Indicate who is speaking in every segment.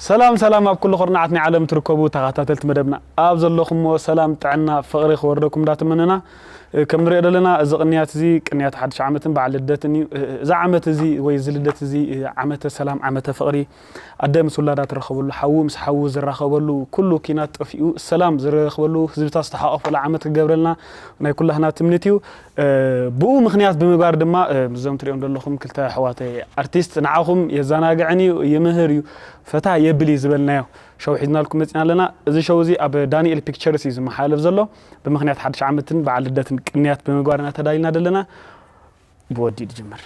Speaker 1: ሰላም ሰላም ኣብ ኩሉ ኩርናዓት ናይ ዓለም ትርከቡ ተኻታተልቲ መደብና ኣብ ዘለኹሞ ሰላም ጥዕና ፍቕሪ ክወርደኩም እንዳ ተመነና ከም ንሪኦ ደለና እዚ ቅንያት እዚ ቅንያት ሓድሽ ዓመትን በዓል ልደትን እዩ እዚ ዓመት እዚ ወይ እዚ ልደት እዚ ዓመተ ሰላም ዓመተ ፍቕሪ ኣደ ምስ ውላዳ ትራኸበሉ ሓዉ ምስ ሓዉ ዝራኸበሉ ኩሉ ኪናት ጠፊኡ ሰላም ዝረረክበሉ ህዝብታት ዝተሓቆፈሉ ዓመት ክገብረልና ናይ ኩላህና ትምኒት እዩ ብኡ ምኽንያት ብምግባር ድማ እዞም ትሪኦም ዘለኹም ክልተ ኣሕዋተይ ኣርቲስት ንዓኹም የዘናግዕን እዩ ይምህር እዩ ፈታ የብል እዩ ዝበልናዮ ሸው ሒዝናልኩም መፂና ኣለና። እዚ ሸው እዚ ኣብ ዳኒኤል ፒክቸርስ እዩ ዝመሓላለፍ ዘሎ ብምኽንያት ሓድሽ ዓመትን በዓል ልደትን ቅንያት ብምግባር ኢና ተዳሊና ዘለና። ብወዲ ድጅምር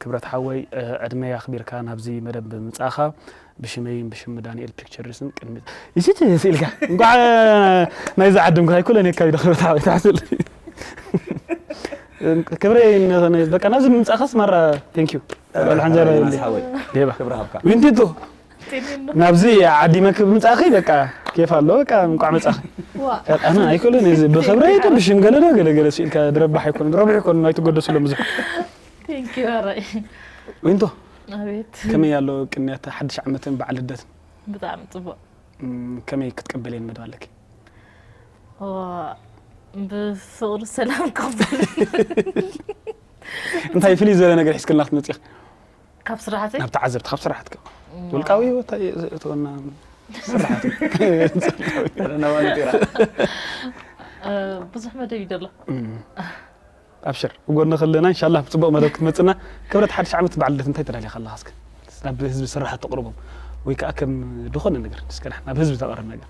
Speaker 1: ክብረት ሓወይ ዕድመይ ኣኽቢርካ ናብዚ መደብ ብምምጻእኻ ብሽመይን ብሽም ዳንኤል ፒክቸርስን ቅድሚ እዚ ስኢልካ እንኳዕ ናይዚ ዓድም ክራይ ኩለን የካቢ ክብረት ሓወይ ትሓስል ክብረይ በቃ ናብዚ ምምጻእኻስ ማራ ቴንክ ዩ ሎልሓንጀራ ዊንቲቶ ናብዚ ዓዲመ ክብ ምጻኺ በቃ ኬፍ ኣሎ በቃ እንቋዕ መጻኺ ኣነ ኣይክእልን እዚ ብኽብረይ ዶ ብሽምገለ ዶ ገለ ገለ ስኢልካ ድረባሕ ኣይኮነን ረብሕ ኣይኮነን ኣይትጎደስሎም ብዙሕ
Speaker 2: ዊንቶ ከመይ ኣሎ
Speaker 1: ቅንያት ሓድሽ ዓመትን በዓል ልደትን ብጣዕሚ
Speaker 2: ጽቡቕ ከመይ
Speaker 1: ክትቀበልየን መደብ ኣለኪ
Speaker 2: ብፍቕሪ ሰላም ቀበል
Speaker 1: እንታይ ፍልይ ዝበለ ነገር ሒዝክልና ክትመጽእ ካብ ስራሕተይ
Speaker 2: ናብ ተዓዘብቲ ካብ ስራሕትካ
Speaker 1: ውልቃዊ ህይወት እተወና ስራሕት
Speaker 2: ብዙሕ መደብ እዩ ዘሎ
Speaker 1: ኣብሽር ጎኒ ክለና ኢንሻላ ብፅቡቅ መደብ ክትመፅና ክብረት ሓድሽ ዓመት በዓል ልደት እንታይ ተዳልያ ከለካ እስከ ናብ ህዝቢ ስራሓት ተቕርቦም ወይ ከዓ ከም ዝኾነ ነገር እስከ ናብ ህዝቢ ተቕርብ ነገር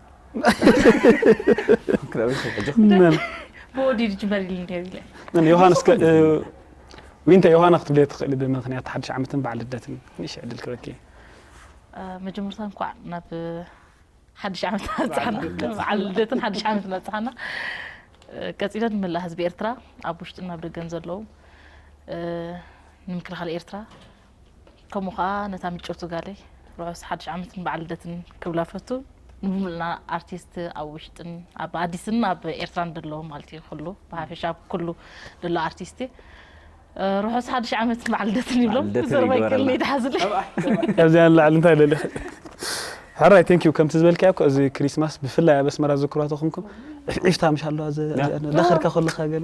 Speaker 1: ብወዲድ
Speaker 2: ጅበሪል ነይሩ ኢለ ን ዮሃንስ ከ-
Speaker 1: እ፣ ዊንታ ዮሃና ክትብለየ ትኽእሊ ብምክንያት ሓድሽ ዓመትን በዓል ልደትን ንእሽ ዕድል ክበኪ
Speaker 2: መጀመርታ እንኳዕ ናብ ሓድሽ ዓመት ኣብፅሓና በዓል ልደትን ሓድሽ ዓመት ኣብፅሓና እ፣ ቀፂለ ንመላእ ህዝቢ ኤርትራ ኣብ ውሽጥን ኣብ ደገን ዘለዉ እ፣ ንምክልኻል ኤርትራ ከምኡ ከኣ ነታ ምጭውቲ ጋለይ ርሑስ ሓድሽ ዓመትን በዓል ልደትን ክብላ ፈቱ ንምሉእና ኣርቲስት ኣብ ውሽጥን ኣብ ኣዲስን ኣብ ኤርትራን ደሎ ማለት እዩ ኩሉ ብሓፈሻ ኣብ ኩሉ ደሎ ኣርቲስት ርሑስ ሓድሽ ዓመትን በዓል ልደትን ይብሎም ዘረባ ይቀልኒ ይድሓዝለ ካብዚኣ
Speaker 1: ንላዕሊ እንታይ ደሊኺ ሕራይ ቴንክ ዩ ከምቲ ዝበልካዮ እኮ እዚ ክሪስማስ ብፍላይ ኣብ ኣስመራ ዝክሯቶ ከምኩም ዕፍዒፍታ ምሽ ኣለዋ ዳኸርካ ከለካ ገለ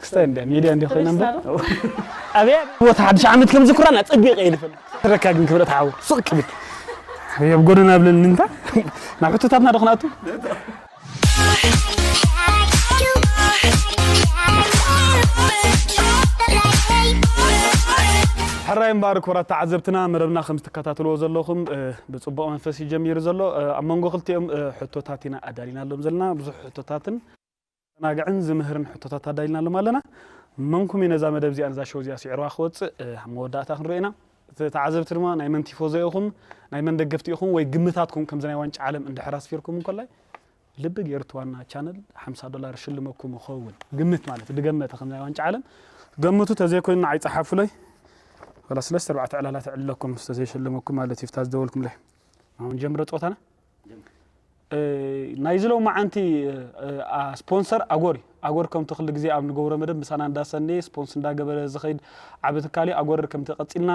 Speaker 2: ክስታይ እንደ ሚድያ እንደ
Speaker 1: ኮይና እምበር ኣብያ ቦታ ሓድሽ ዓመት ከም ዝኩራን ኣጸቢቀ እየ ዝፈልጥ ትረካ ግን ክብረት ሓው ሱቅ ክብል ኣብያ ኣብ ጎደና ብለኒ እንታ ናብ ሕቶታትና ዶ ክንኣቱ ሕራይ እምበር ክብራት ተዓዘብትና መደብና ከም ዝትከታተልዎ ዘለኹም ብፅቡቕ መንፈስ እዩ ጀሚሩ ዘሎ ኣብ መንጎ ክልቲኦም ሕቶታት ኢና ኣዳሊናሎም ዘለና ብዙሕ ሕቶታትን ዘዘናግዕን ዝምህርን ሕቶታት ኣዳሊናሎም ኣለና። መንኩም'ዩ ነዛ መደብ እዚኣን እዛ ሸው እዚኣ ስዒርዋ ክወጽእ? ኣብ መወዳእታ ክንሪኦ ኢና። ተዓዘብቲ ድማ ናይ መን ቲፎዞ ኢኹም፣ ናይ መን ደገፍቲ ኢኹም ወይ ግምታትኩም ከምዚ ናይ ዋንጫ ዓለም እንድሕር ኣስፊርኩም እንኮላይ ልቢ ጌርት ዋና ቻነል ሓምሳ ዶላር እሽልመኩም እኸውን። ግምት ማለት ድገመተ ከምዚ ናይ ዋንጫ ዓለም ገምቱ ተዘይኮይኑ ንዓይ ጸሓፉለይ ወላ ስለስተ ኣርባዕተ ዕላላት እዕለኩም ተዘይሽልመኩም ማለት እዩ። ፍታ ዝደወልኩምለይ ኣሁን ጀምረ ጸወታና። ናይዚ ሎማዓንቲ ስፖንሰር ኣጎር እዩ። ኣጎር ከምቲ ክሉ ግዜ ኣብ ንገብሮ መደብ ምሳና እንዳሰነየ ስፖንስ እንዳገበረ ዝኸይድ ዓቢ ትካል እዩ። ኣጎር ከምቲ ቀጺልና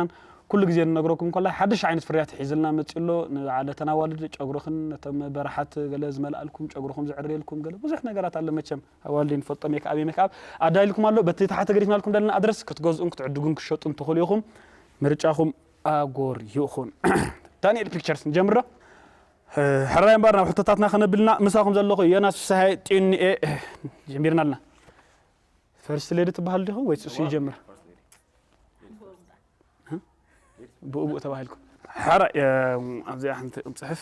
Speaker 1: ኩሉ ግዜ ንነግረኩም ኮላይ ሓድሽ ዓይነት ፍርያት ሒዝልና መጺኡ ኣሎ። ንዓል እተን ኣዋልድ ጨጉርኽን ነቶም በራሓት ገለ ዝመልኣልኩም ጨጉርኹም ዝዕርየልኩም ገለ ብዙሕ ነገራት ኣሎ መቸም ኣዋልድ ንፈልጦ ሜክኣብ እየ ሜክኣብ ኣዳሊልኩም ኣሎ በቲ ታሕቲ ገዲፍናልኩም ደለና ኣድረስ ክትገዝኡን ክትዕድጉን ክትሸጡን ትኽእሉ ኢኹም ምርጫኹም ኣጎር ይኹን ዳኒኤል ፒክቸርስ ንጀምር ዶ? ሕራይ እምበር ናብ ሕቶታትና ከነብልና ምሳኹም ዘለኹ ዮናስ ፍስሃየ ጢኑኤ ጀሚርና ኣለና። ፈርስት ሌዲ ትበሃል ዲኹም ወይስ እሱ ይጀምር? ብኡብኡ ተባሂልኩም ሕራይ ኣብዚኣ ሓንቲ ጽሕፍ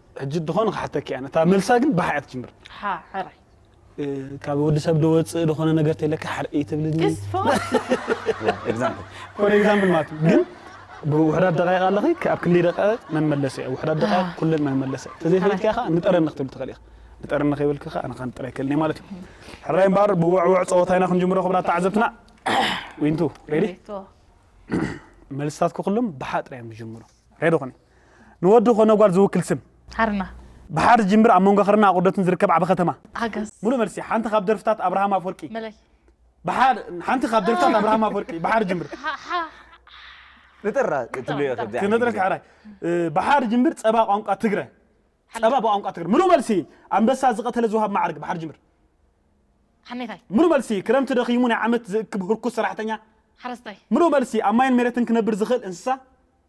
Speaker 2: ሕጂ ድኾነ
Speaker 1: ክሓተኪ ኣነ እታ መልሳ ግን ባሕ እያ ትጅምር ሓ ሕራይ ካብ ወዲ ሰብ ድወጽእ ድኾነ ነገር ተለካ ሕርእ ትብልኒ ክስ ፍቕሪ
Speaker 3: ኤግዛምፕል ፎር ኤግዛምፕል
Speaker 1: ማለት እዩ ግን ብውሕዳት ደቃይቅ ኣለኺ ካብ ክንደይ ደቃይቅ መን መለሰ እያ ውሕዳት ደቃይቅ ኣህ። ኩለን መን መለሰ ተዘይፈለጥኪያ ከዓ ንጠረኒ ክትብል ትኽእል ኢኻ ንጠረኒ ከይበልኪ ከዓ ኣነ ከዓ ንጥረ ኣይክእልን እየ ማለት እዩ ሕራይ እምበኣር ብውዕውዕ ፀወታ ኢና ክንጅምሮ ክብራት ተዓዘብትና ዊንቱ ሬዲ ሬቶ መልስታትኩ ኩሎም ብሓ ጥራይ እዮም ዝጅምሩ ሬዶ ኮነ ንወዲ ኮነ ጓል ዝውክል ስም። ሃርና።
Speaker 2: ብሓር ዝጅምር
Speaker 1: ኣብ መንጎ ክርና ኣቑርደትን ዝርከብ ዓቢ ከተማ። ኣገስ። ሙሉእ መልሲ
Speaker 2: ሓንቲ ካብ
Speaker 1: ደርፍታት ኣብርሃም ኣፍወርቂ። መለይ።
Speaker 2: ብሓር
Speaker 1: ሓንቲ ካብ ደርፍታት ኣብርሃም ኣፍወርቂ ብሓር ዝጅምር።
Speaker 3: ንጥራ ትብልዮ ከምዚኣ። ክነጥረካ ሕራይ
Speaker 1: ብሓር ዝጅምር ጸባ ቋንቋ ትግረ። ጸባ ብቋንቋ ትግርኛ። ምሉእ መልሲ፣ ኣንበሳ ዝቐተለ ዝወሃብ መዓርግ፣ ብሓር ጅምር።
Speaker 2: ሓሜታይ። ምሉእ መልሲ፣
Speaker 1: ክረምቲ ደኺሙ ናይ ዓመት ዝእክብ ህርኩት ሰራሕተኛ። ሓረስታይ። ምሉእ
Speaker 2: መልሲ፣ ኣብ ማይን
Speaker 1: መሬትን ክነብር ዝኽእል እንስሳ።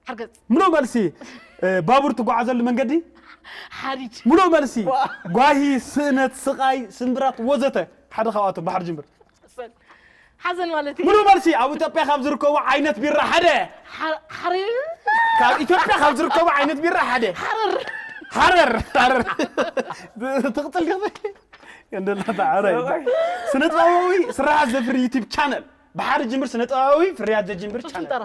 Speaker 1: ሓርገጽ።
Speaker 2: ምሉእ መልሲ፣
Speaker 1: ባቡር ትጓዓዘሉ መንገዲ። ሓዲድ።
Speaker 2: ምሉእ መልሲ፣
Speaker 1: ጓሂ፣ ስእነት፣ ስቓይ፣ ስምብራት፣ ወዘተ ሓደ ካብኣቶም፣ ብሓር ጅምር። ጸጸን
Speaker 2: ሓዘን ማለት እዩ። ምሉእ መልሲ፣ ኣብ ኢትዮጵያ
Speaker 1: ካብ ዝርከቡ ዓይነት ቢራ ሓደ። ሓ- ሓሪ-
Speaker 2: ካብ
Speaker 1: ኢትዮጵያ ካብ ዝርከቡ ዓይነት ቢራ ሓደ። ሓረር ሃረር ሃረር ትቕፅል ዲኺ እንደላ ተዓረ ስነ ጥበባዊ ስርሓት ዘፍሪ ዩቲብ ቻነል ብሓደ ጅምር ስነ ጥበባዊ ፍርያት ዘጅምር ጡጥ ቻነል ሽንጠራ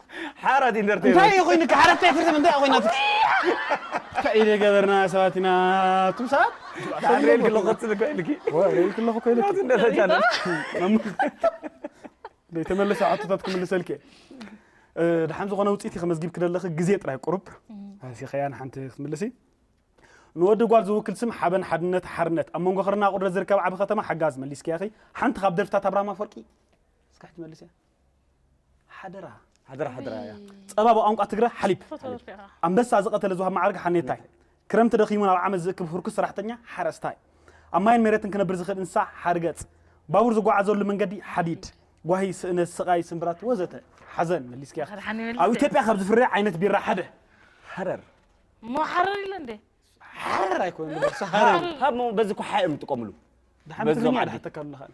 Speaker 1: ሓራት ኢንተርተይመንት
Speaker 3: እንታይ እዩ ኮይኑካ ሓራት
Speaker 1: ኢንተርተይመንት እንታይ ኮይናትካ እንታይ እዩ ገበርና ሰባት ኢና ኣቱም ሰባት ኣንሬል
Speaker 3: ክለኹ ክትብል ኮይንኪ ኣንሬል ክለኹ
Speaker 1: ኮይንኪ
Speaker 3: ናይ
Speaker 1: ተመለሰ ሕቶታት ክምልሰልኪ ድሓን ዝኾነ ውፅኢት ከመዝጊብኪ ደለኺ ግዜ ጥራይ ቁሩብ ኣንሲ ከያ ንሓንቲ ክትምልሲ ንወዲ ጓል ዝውክል ስም ሓበን ሓድነት ሓርነት ኣብ መንጎ ክርና ቁድረት ዝርከብ ዓብ ከተማ ሓጋዝ መሊስኪያኺ ሓንቲ ካብ ደርፍታት ኣብርሃም ኣፈወርቂ እስካሕቲ መልስያ ሓደራ ሓደራ ሓደራ
Speaker 3: እያ ጸባ ብቋንቋ
Speaker 1: ትግረ ሓሊብ ኣንበሳ ዝቐተለ ዝውሃብ ማዕርግ ሓኔታይ ክረምቲ ደኺሙ ናብ ዓመት ዝእክብ ህርኩስ ሰራሕተኛ ሓረስታይ ኣብ ማይን ሜረትን ክነብር ዝኽእል እንስሳ ሓርገጽ ባቡር ዝጓዓዘሉ መንገዲ ሓዲድ ጓሂ ስእነት ስቓይ ስንብራት ወዘተ ሓዘን መሊስኪያ ኣብ ኢትዮጵያ ካብ ዝፍረ ዓይነት
Speaker 2: ቢራ
Speaker 1: ሓደ ሃረር እሞ ሓረር ኢለ
Speaker 2: እንደ
Speaker 1: ሓረር ኣይኮነ ሃረር ካብ በዚ ኩሓ
Speaker 3: እዮም ዝጥቀምሉ ድሓን ትግርኛ
Speaker 1: ድሓተካሉ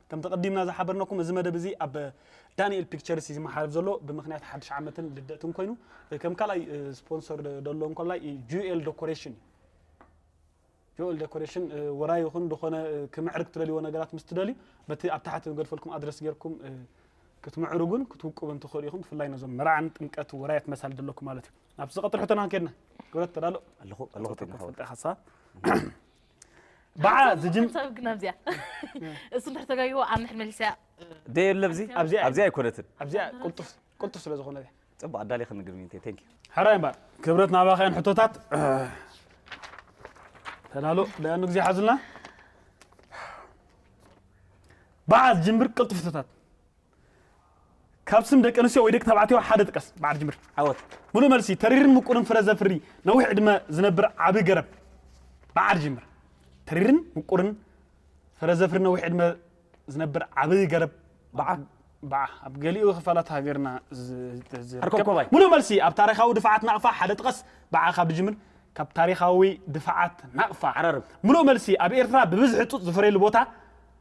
Speaker 1: ከምቲ ኣቐዲምና ዝሓበርናኩም እዚ መደብ እዚ ኣብ ዳኒኤል ፒክቸርስ እዩ ዝመሓለፍ ዘሎ ብምኽንያት ሓድሽ ዓመትን ልደትን ኮይኑ ከም ካልኣይ ስፖንሰር ደሎ እንኮላይ ጁኤል ዶኮሬሽን እዩ ጆል ዴኮሬሽን ወራይ ይኹን ዝኾነ ክምዕርግ ትደልይዎ ነገራት ምስ ትደልዩ በቲ ኣብ ታሕቲ ንገድፈልኩም ኣድረስ ጌርኩም ክትምዕርጉን ክትውቅቡን ትኽእሉ ኢኹም ብፍላይ ነዞም መርዓን ጥምቀት ወራያት መሳል ዘለኩም ማለት እዩ ናብቲ ዝቐጥል ሕቶና ከድና ክብረት ተዳሎ ኣለኹ ኣለኹ ተፈልጠ
Speaker 3: ሓሳብ
Speaker 1: ባዓ ዝጅም ሰብ ግን ኣብዚኣ
Speaker 2: እሱ እንድሕር ተጋይዎ ኣብ ምሕር መሊሳ ደይ የለ ኣብዚ
Speaker 3: ኣብዚ ኣይ- ኣብዚ ኣይኮነትን ኣብዚኣ ቅልጡፍ
Speaker 1: ቅልጡፍ ስለ ዝኾነ እዚኣ ፅቡቅ ኣዳሊኽ ንግርሚ
Speaker 3: እንተ ቴንክ ሕራይ እምበር ክብረት
Speaker 1: ናባኸያን ሕቶታት ተዳሎ ደያኑ ግዜ ሓዙልና ባዓ ዝጅምር ቅልጡፍ ሕቶታት ካብ ስም ደቂ ኣንስትዮ ወይ ደቂ ተባዕትዮ ሓደ ጥቀስ። በዓል ጅምር። ዓወት። ምሉእ መልሲ፣
Speaker 3: ተሪርን
Speaker 1: ምቁርን ፍረ ዘፍሪ ነዊሕ ዕድመ ዝነብር ዓቢ ገረብ። በዓል ጅምር። ተሪርን ምቁርን ፍረ ዘፍሪ ነዊሕ ዕድመ ዝነብር ዓቢ ገረብ። በዓ። በዓ። ኣብ ገሊኡ ክፋላት ሃገርና ዝርከብ። ምሉእ መልሲ፣ ኣብ ታሪኻዊ ድፋዓት ናቕፋ ሓደ ጥቀስ። በዓ ካብ ድጅምር። ካብ ታሪኻዊ ድፋዓት ናቕፋ። ዓራርብ። ምሉእ መልሲ፣
Speaker 3: ኣብ
Speaker 1: ኤርትራ ብብዝሒ ጡጥ ዝፈርየሉ ቦታ።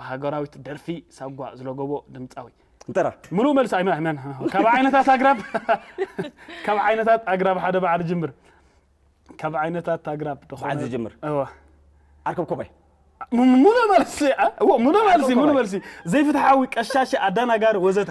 Speaker 1: ሃገራዊት ደርፊ ሳጓ ዝለጎቦ ድምፃዊ እንተራ ምሉእ
Speaker 3: መልሲ ኣይመ- ኣይመ-
Speaker 1: ኣይመ- ካብ ዓይነታት ኣግራብ ካብ ዓይነታት ኣግራብ ሓደ በዓል ጅምር ካብ ዓይነታት ኣግራብ ዝኾነ- በዓል ዝጅምር። እወ ኣርከብ ኮባይ
Speaker 3: ም- ምሉእ
Speaker 1: መልሲ ኣ- እዎ፣ ምሉእ መልሲ ምሉእ መልሲ ዘይፍትሓዊ ቀሻሺ ኣዳናጋሪ ወዘተ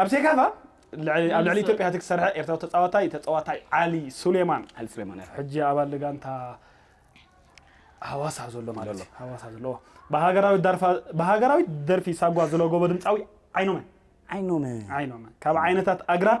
Speaker 1: ኣብ ሴካፋ ኣብ ልዕሊ ኢትዮጵያ እቲ ዝሰርሐ ኤርትራዊ ተጻዋታይ ተጻዋታይ ዓሊ ሱሌማን ዓሊ ሱሌማን ሕጂ ኣባል ጋንታ ሃዋሳ ዘሎ ማለት እዩ ሃዋሳ ዘለዎ ብሃገራዊት ደርፊ ሳጓ ዝለጎቦ ድምፃዊ ዓይኖመ ዓይኖመ ዓይኖመ ካብ ዓይነታት ኣግራብ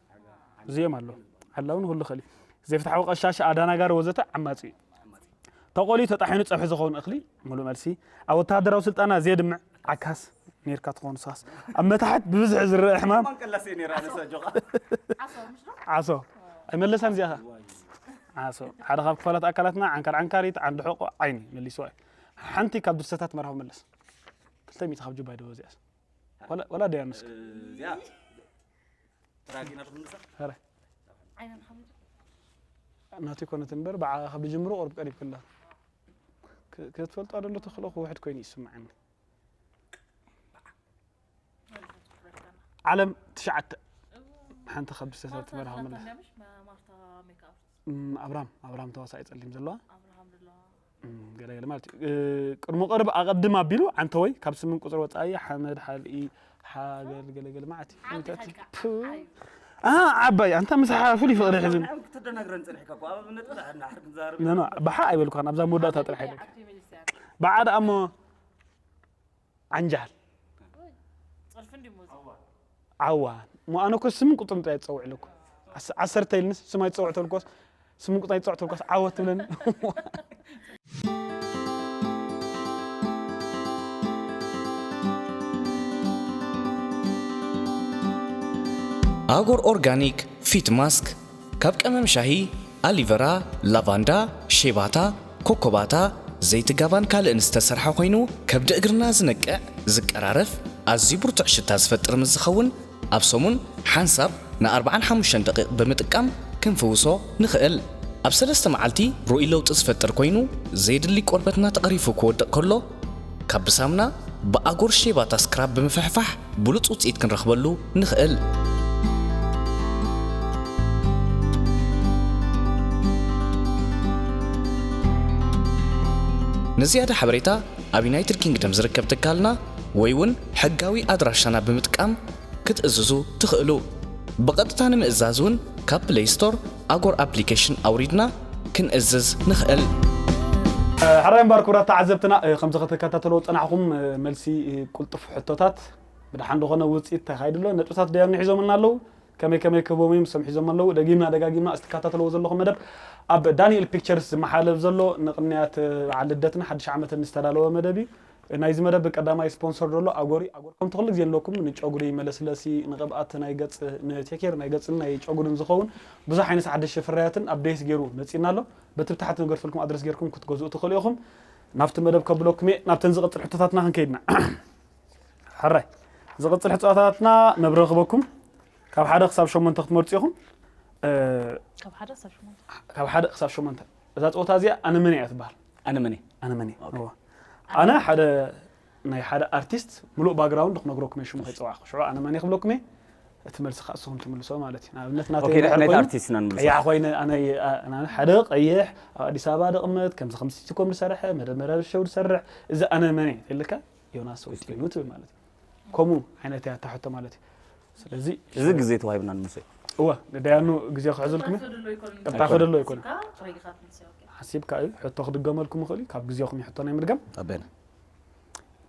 Speaker 1: እዚኦም ኣሎ ሓላውን ሁሉ ኸሊ ዘይፍትሓዊ ቀሻሻ ኣዳናጋሪ ወዘተ ዓማፂ እዩ ተቆልዩ ተጣሒኑ ፀብሒ ዝኸውን እኽሊ ሙሉእ መልሲ ኣብ ወተሃደራዊ ስልጠና ዘየድምዕ ዓካስ ኔርካ ትኾኑ ሳስ ኣብ መታሕት ብብዝሒ ዝረአ ሕማም ዓሶ ኣይመለሳን እዚኣ ዓሶ ሓደ ካብ ክፋላት ኣካላትና ዓንካር ዓንካሪት ዓንዲ ሕቆ ዓይኒ መሊስዋ እዩ ሓንቲ ካብ ድርሰታት መርሃዊ መለስ ክልተ ሚእቲ ካብ ጁባ ይደወ እዚኣስ ወላ ደያ ንስክ ናቱ ይኮነት እምበር ብዓኻ ብጅምሮ ቅርብ ቀሪብ ክላ ክትፈልጦ ደሎ ተኽእሎ ክውሕድ ኮይኑ ይስምዓኒ ዓለም ትሽዓተ ሓንቲ ካብ ብሰታት ትበርሃ መለስ ኣብራም ኣብራም ተዋሳኢ ጸሊም ዘለዋ ገለገለ ማለት እዩ ቅድሞ ቅርብ ኣቐድም ኣቢሉ ዓንተወይ ካብ ስምን ቁፅሪ ወፃኢ ሓመድ ሓልኢ ሓገል ገለገለ ማለት እዩ ዓባይ ኣንታ ምስ ሓፉል ይፍቕሪ ሕዚ ባሓ ኣይበልኳን ኣብዛ መወዳእታ ጥራሕ ይበል ባዓ ደኣ እሞ ዓንጃል ዓዋ እሞ ኣነ እኮ ስምን ቁፅርን ጥራይ ትፀውዕለኩ ዓስ- ዓሰርተ ኢልንስ ስም ኣይትፀውዕ ተልኳስ ስምን ቁፅርን ኣይትፀውዕ ተልኳስ ዓወት ትብለኒ
Speaker 4: ኣጎር ኦርጋኒክ ፊት ማስክ ካብ ቀመም ሻሂ፣ ኣሊቨራ፣ ላቫንዳ፣ ሼባታ፣ ኮኮባታ፣ ዘይቲ ጋባን ካልእን ዝተሰርሐ ኮይኑ ከብዲ እግርና ዝነቅዕ፣ ዝቀራረፍ፣ ኣዝዩ ብርቱዕ ሽታ ዝፈጥር ምስ ዝኸውን ኣብ ሰሙን ሓንሳብ ን ኣርብዓን ሓሙሽተን ደቒቕ ብምጥቃም ክንፍውሶ ንኽእል። ኣብ ሰለስተ መዓልቲ ርኡይ ለውጢ ዝፈጥር ኮይኑ፣ ዘየድሊ ቆርበትና ተቐሪፉ ክወድቕ ከሎ፣ ካብ ብሳምና ብኣጎር ሼባታ ስክራብ ብምፍሕፋሕ ብሉጽ ውጽኢት ክንረኽበሉ ንኽእል። ንዝያዳ ሓበሬታ ኣብ ዩናይትድ ኪንግደም ዝርከብ ትካልና ወይ'ውን ሕጋዊ ኣድራሻና ብምጥቃም ክትእዝዙ ትኽእሉ። ብቐጥታ ንምእዛዝ እውን ካብ ፕለይ ስቶር ኣጎር ኣፕሊኬሽን ኣውሪድና ክንእዝዝ ንኽእል።
Speaker 1: ሕራይ እምባር ክብራት ተዓዘብትና ከምዚ ከተካታተልዎ ዝጸናሕኹም መልሲ ቁልጡፍ ሕቶታት ብደሓን ዶ ኮነ ውጽኢት ተካይዱ ኣሎ ነጥብታት ደያኑ ንሒዞምልና ኣለዉ ከመይ ከመይ ክህቦም እዮም ንሶም ሒዞሞ ኣለዉ ደጊምና ደጋጊምና እዚ ትካታተልዎ ዘለኹም መደብ ኣብ ዳኒኤል ፒክቸርስ ዝመሓለፍ ዘሎ ንቅንያት በዓል ልደትን ሓድሽ ዓመትን ዝተዳለወ መደብ እዩ ናይዚ መደብ ቀዳማይ ስፖንሰር ደሎ ኣጎሪ ኣጎር ከምቲ ኩሉ ግዜ ንብለኩም ንጨጉሪ መለስለሲ ንቅብኣት ናይ ገጽ ንቴኬር ናይ ገጽን ናይ ጨጉርን ዝኸውን ብዙሕ ዓይነት ሓደሽቲ ፍርያትን ኣፕዴት ጌሩ መጺና ኣሎ በቲ ብታሕቲ ንገድፈልኩም ኣድረስ ጌርኩም ክትገዝኡ ትኽእሉ ኢኹም ናብቲ መደብ ከብለኩም እየ ናብተን ዝቅጽል ሕቶታትና ክንከይድና ሕራይ ዝቅጽል ሕቶታትና መብረ ክበኩም ካብ ሓደ ክሳብ ሸሞንተ ክትመርጹ ኢኹም ካብ
Speaker 2: ሓደ ክሳብ ሸሞንተ ካብ ሓደ ክሳብ ሸሞንተ እዛ ፀወታ
Speaker 1: እዚኣ ኣነመኔ እያ ትበሃል ኣነመኔ ኣነመኔ ኣነ ሓደ ናይ ሓደ ኣርቲስት ምሉእ ባግራውንድ ክነግረኩም እየ ሽሙ ከይፀዋዕኩ ሽዑ ኣነመኔ ክብለኩም እየ እቲ መልሲ ከዓ ንስኹም ትምልሶ ማለት እዩ ንኣብነት ናተይቀያሕ
Speaker 3: ኮይነ
Speaker 1: ሓደ ቀይሕ ኣብ ኣዲስ ኣበባ ደቕመት ከምዚ ከምዚ ሲትኮም ዝሰርሐ መደመረ ሸው ዝሰርሕ እዚ ኣነመኔ ተልካ ዮናስ ወይኑ ትብል ማለት እዩ ከምኡ ዓይነት እያ እታ ሕቶ ማለት እዩ ስለዚ እዚ ግዜ ተዋሂብና
Speaker 3: ንሙሴ እወ ንዳያኑ
Speaker 1: ግዜ ክሕዝልኩም ቅጣ ክደሎ ኣይኮነ ሓሲብካ እዩ ሕቶ ክድገመልኩም ይኽእል እዩ ካብ ግዜኹም እዩ ሕቶ ናይ ምድጋም ኣበና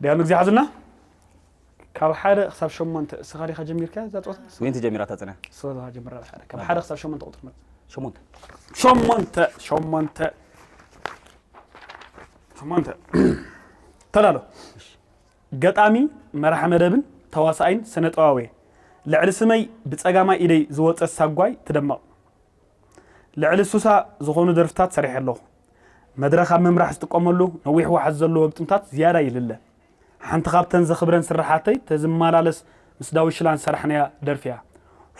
Speaker 1: ዳያኑ ግዜ ሓዝልና ካብ ሓደ ክሳብ ሸሞንተ እስኻ ዲኻ ጀሚርካ እዛ ፀወታ ወይንቲ ጀሚራ ተፅንያ
Speaker 3: ስኻ ጀምራ ሓደ
Speaker 1: ካብ ሓደ ክሳብ ሸሞንተ ቁፅሪ መፅ ሸሞንተ ሸሞንተ ሸሞንተ ሸሞንተ ተላሎ ገጣሚ፣ መራሒ መደብን ተዋሳኣይን ስነጥበባውየ። ልዕሊ ስመይ ብጸጋማይ ኢደይ ዝወጸት ሳጓይ ትደምቕ። ልዕሊ ሱሳ ዝኾኑ ደርፍታት ሰሪሐ ኣለኹ። መድረኽ ኣብ ምምራሕ ዝጥቀመሉ ነዊሕ ዋሕዚ ዘለዎ ግጥምታት ዝያዳ ይልለ። ሓንቲ ካብተን ዘኽብረን ስርሓተይ ተዝመላለስ ምስ ዳዊት ሽላን ዝሰራሕናያ ደርፊያ።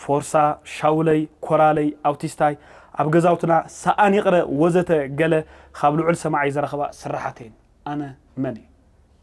Speaker 1: ፎርሳ፣ ሻውለይ፣ ኮራለይ፣ ኣውቲስታይ፣ ኣብ ገዛውትና፣ ሰኣን ይቕረ ወዘተ ገለ ካብ ልዑል ሰማዓይ ዝረኽባ ስርሓትየን። ኣነ መንየ?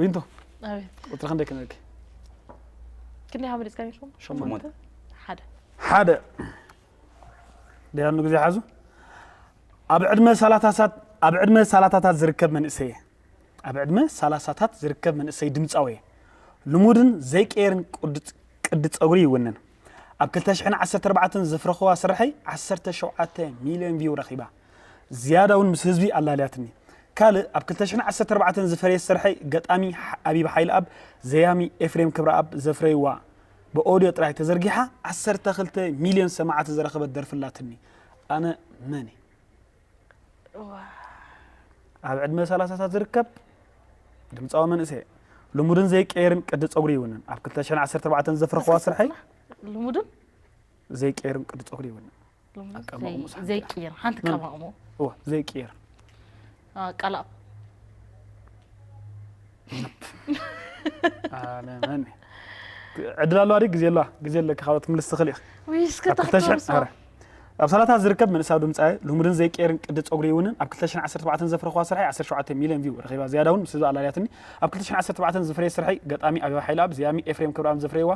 Speaker 1: ዊንቶ ቁፅሪ
Speaker 2: ክንደይ ክነልኪ ክንደይ ካብ መሪፅካ ኔርኩም ሸሞንተ
Speaker 3: ሓደ
Speaker 1: ሓደ ደያኑ ግዜ ሓዙ ኣብ ዕድመ ሳላታሳት ኣብ ዕድመ ሳላታታት ዝርከብ መንእሰይ እየ ኣብ ዕድመ ሳላሳታት ዝርከብ መንእሰይ ድምፃዊ እየ ልሙድን ዘይቀየርን ቁድ- ቅዲ ፀጉሪ ይውንን ኣብ 214 ዘፍረኽዋ ስርሐይ 17 ሚልዮን ቪው ረኺባ ዝያዳ ውን ምስ ህዝቢ ኣላልያትኒ። ካልእ ኣብ ክልተ ሽሕን ዓሰርተ ኣርባዕተን ዝፈረየት ስርሐይ ገጣሚ ኣቢብ ሓይልኣብ፣ ዘያሚ ኤፍሬም ክብረኣብ ዘፍረይዋ ብኦድዮ ጥራይ ተዘርጊሓ ዓሰርተ ክልተ ሚልዮን ሰማዕቲ ዝረኸበት ደርፊ ኣላትኒ። ኣነ መን እየ? ኣብ ዕድመ ሰላሳታት ዝርከብ ድምጻዊ መንእሰይ እየ። ልሙድን ዘይቀየርን ቅዲ ጸጉሪ ይውንን። ኣብ ክልተ ሽሕን ዓሰርተ ኣርባዕተን ዘፍረኹዋ ስርሐይ ልሙድን ዘይቀየርን ቅዲ ጸጉሪ ይውንን።
Speaker 2: ኣቀማቕሙ ሳሕቲ ዘይቅይር
Speaker 1: ሓንቲ መም-
Speaker 2: ቀማቕሞ
Speaker 1: እወ ዘይቅየር ቀላእ ኣለመን ዕድል ኣለዋ ድዩ ግዜ ኣለዋ ግዜ ኣለካ ካልኦት ክምልስ ትኽእል ኢኽ ውይ እስከ ኣብ 2000 ተሕተርሶ
Speaker 2: ኣረ፣ ኣብ ሰላታ
Speaker 1: ዝርከብ መንእሰያዊ ድምፃዊ ልሙድን ዘይቀየርን ቅዲ ፀጉሪ ይውንን ኣብ 2017 ዘፍረኽዋ ስርሐይ 17 ሚልዮን ቪው ረኺባ ዝያዳ እውን ምስ ህዝቢ ኣላልያትኒ ኣብ 2017 ዝፍረየ ስርሐይ ገጣሚ ኣበባ ሓይለኣብ ዝያሚ ኤፍሬም ክብርኣብ ዘፍረይዋ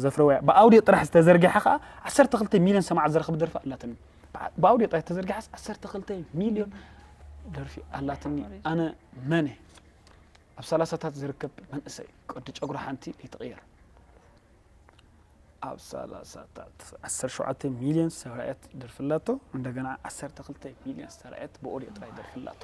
Speaker 1: ዘፍረውያ ብኣውድዮ ጥራሕ ዝተዘርግሐ ከኣ ዓሰርተ ክልተ ሚልዮን ሰማዕት ዝረኽብ ደርፊ ኣላትኒ ብኣውድዮ ጥራሕ ዝተዘርግሐስ ዓሰርተ ክልተ ሚልዮን ደርፊ ኣላትኒ ኣነ መን እየ ኣብ ሰላሳታት ዝርከብ መንእሰይ ቅዲ ጨጉሪ ሓንቲ ይትቕየር ኣብ ሰላሳታት ዓሰር ሸውዓተ ሚልዮን ዝተራእየት ደርፊ ኣላቶ እንደገና ዓሰርተ ክልተ ሚልዮን ዝተራእየት ብኦድዮ ጥራይ ደርፊ ኣላቶ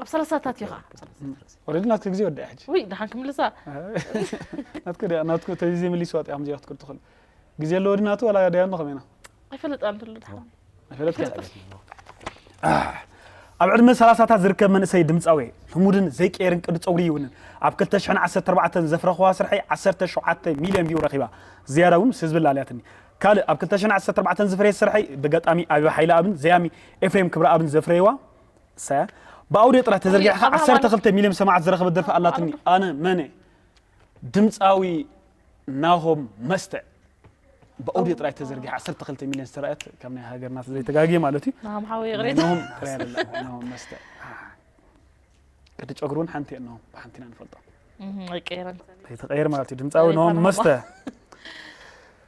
Speaker 3: ኣብ ሰላሳታት
Speaker 2: እዩ ከዓ ወረዲ ናትክ
Speaker 1: ግዜ ወዲኣ ሕጂ ውይ ድሓን ክምልሳ
Speaker 2: ናትክ
Speaker 1: ድያ ናትክ ተዚ ዘይምሊስዋ ጥያ ከምዚኣ ክትክል ትኽእል ግዜ ኣለዎ ዲ ናቱ ዋላ ድያ ኖ ከመይና ኣይፈለጥ ኣንተሉ
Speaker 2: ድሓን
Speaker 1: ኣይፈለጥካ ኣብ ዕድመ ሰላሳታት ዝርከብ መንእሰይ ድምፃዊ ልሙድን ዘይቀየርን ቅዲ ፀጉሪ ይውንን ኣብ 214 ዘፍረኽዋ ስርሐይ 17 ሚልዮን ቪው ረኺባ ዝያዳ እውን ምስ ህዝቢ ላለያትኒ ካልእ ኣብ 214 ዝፍረየ ስርሐይ ብገጣሚ ኣቢባ ሓይለ ኣብን ዘያሚ ኤፍሬም ክብረኣብን ዘፍረየዋ ሳያ ብኣውድዮ ጥራህ ተዘርጊሕኻ ዓሰርተ ክልተ ሚልዮን ሰማዕት ዝረኸበት ደርፊ ኣላትኒ ኣነ መነ ድምፃዊ ናሆም መስተ ብኣውድዮ ጥራይ ተዘርጊሓ ዓሰርተ ክልተ ሚልዮን ዝተረኣየት ካብ ናይ ሃገርና ዘይተጋግየ ማለት እዩ ናሆም ሓወይ ይቕሬታ ናሆም
Speaker 2: ጥራይ ኣላ
Speaker 1: ናሆም መስተ ቅዲ ጨጉሪ እውን ሓንቲ እየ ናሆም ብሓንቲ ኢና ንፈልጦ ኣይቀየረን
Speaker 2: ከይተቐየር ማለት እዩ
Speaker 1: ድምፃዊ ናሆም መስተ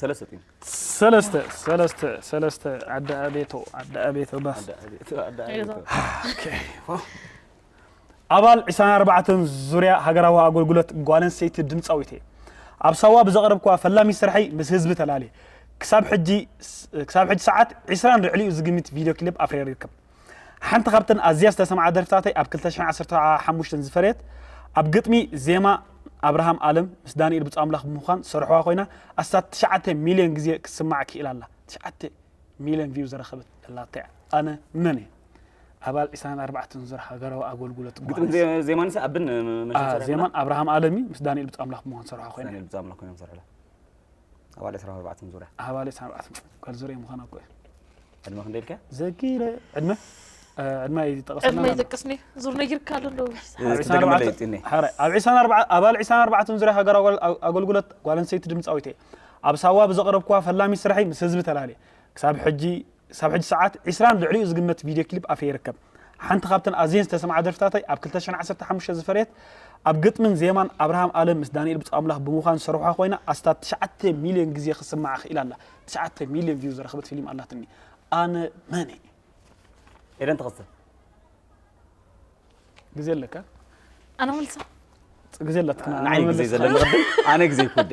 Speaker 1: ሰለስተ ጢም ሰለስተ ሰለስተ ሰለስተ ኣደ ኣቤቶ ኣደ ኣቤቶ ባስ ኣባል 24 ዙርያ ሃገራዊ ኣገልግሎት ጓል ኣንስተይቲ ድምፃዊት እየ ኣብ ሳዋ ብዘቕረብክዋ ፈላሚ ስርሐይ ምስ ህዝቢ ተላልየ ክሳብ ሕጂ ሰዓት 20 ልዕሊኡ ዝግምት ቪድዮ ክሊፕ ኣፍሪረ ይርከብ ሓንቲ ካብተን ኣዝያ ዝተሰምዓ ደርፍታተይ ኣብ ክልተ ሽሕን ዓሰርተ ሓሙሽተን ዝፈረየት ኣብ ግጥሚ ዜማ ኣብርሃም ኣለም ምስ ዳንኤል ብፁኣምላኽ ብምዃን ዝሰርሑዋ ኮይና ኣስታት ትሽዓተ ሚልዮን ግዜ ክትስማዕ ክኢላ ኣላ ትሽዓተ ሚልዮን ቪው ዝረኸበት ደላታ እያ ኣነ መን እየ ኣባል ዒስራን ኣርባዕተን ዙር ሃገራዊ ኣገልግሎት ግጥሚ ጓል ዜ- ዜማን
Speaker 3: ሰ ኣብን አ፣ ዜማን
Speaker 1: ኣብርሃም ኣለሚ ምስ ዳንኤል ብፁኣምላኽ ብምዃን ዝሰርሑዋ ኮይና ዳንኤል ብዛምላክ ኮይኖም ሰርሕላ
Speaker 3: ኣባል ዕስራን ኣርባዕተን ዙርያ ኣባል ዕስራን ኣርባዕተን
Speaker 1: ቃል ዙርያ ምዃን ኣብቅዑ ዕድመ ክንደይ
Speaker 3: ኢልካ ዘኪረ ዕድመ
Speaker 1: ዕድመ ይጠቐሰልና ዕድመ ይጠቅስኒ
Speaker 2: ዙር ነጊርካ ኣሎ እንዶ
Speaker 1: ኣብ ዕስራን ኣባል ዕስራን ኣርባዕተን ዙርያ ሃገራዊ ኣገልግሎት ጓል ኣንስተይቲ ድምፃዊት እየ ኣብ ሳዋ ብዘቕረብኩዋ ፈላሚ ስራሐይ ምስ ህዝቢ ተላልየ ክሳብ ሕጂ ክሳብ ሕጂ ሰዓት ዕስራን ልዕሊኡ ዝግመት ቪድዮ ክሊፕ ኣፈ ይርከብ። ሓንቲ ካብተን ኣዝየን ዝተሰምዓ ደርፍታተይ ኣብ ክልተ ሽሕን ዓሰርተ ሓሙሽተ ዝፈረየት ኣብ ግጥምን ዜማን ኣብርሃም ኣለም ምስ ዳኒኤል ብጹኣምላኽ ብምዃን ዝሰርሑዋ ኮይና ኣስታት ትሽዓተ ሚልዮን ግዜ ክትስማዕ ክኢላ ኣላ። ትሽዓተ ሚልዮን ቪው ዝረኽበት ፊሊም ኣላትኒ። ኣነ መን እየ?
Speaker 3: ኤደን ትቕጽል።
Speaker 1: ግዜ ኣለካ? ኣነ
Speaker 2: ክምልሳ? ግዜ ኣላትክና።
Speaker 1: ንዓይ ግዜ ዘለኒ
Speaker 3: ቅድም ኣነ ግዜ ይኩዴ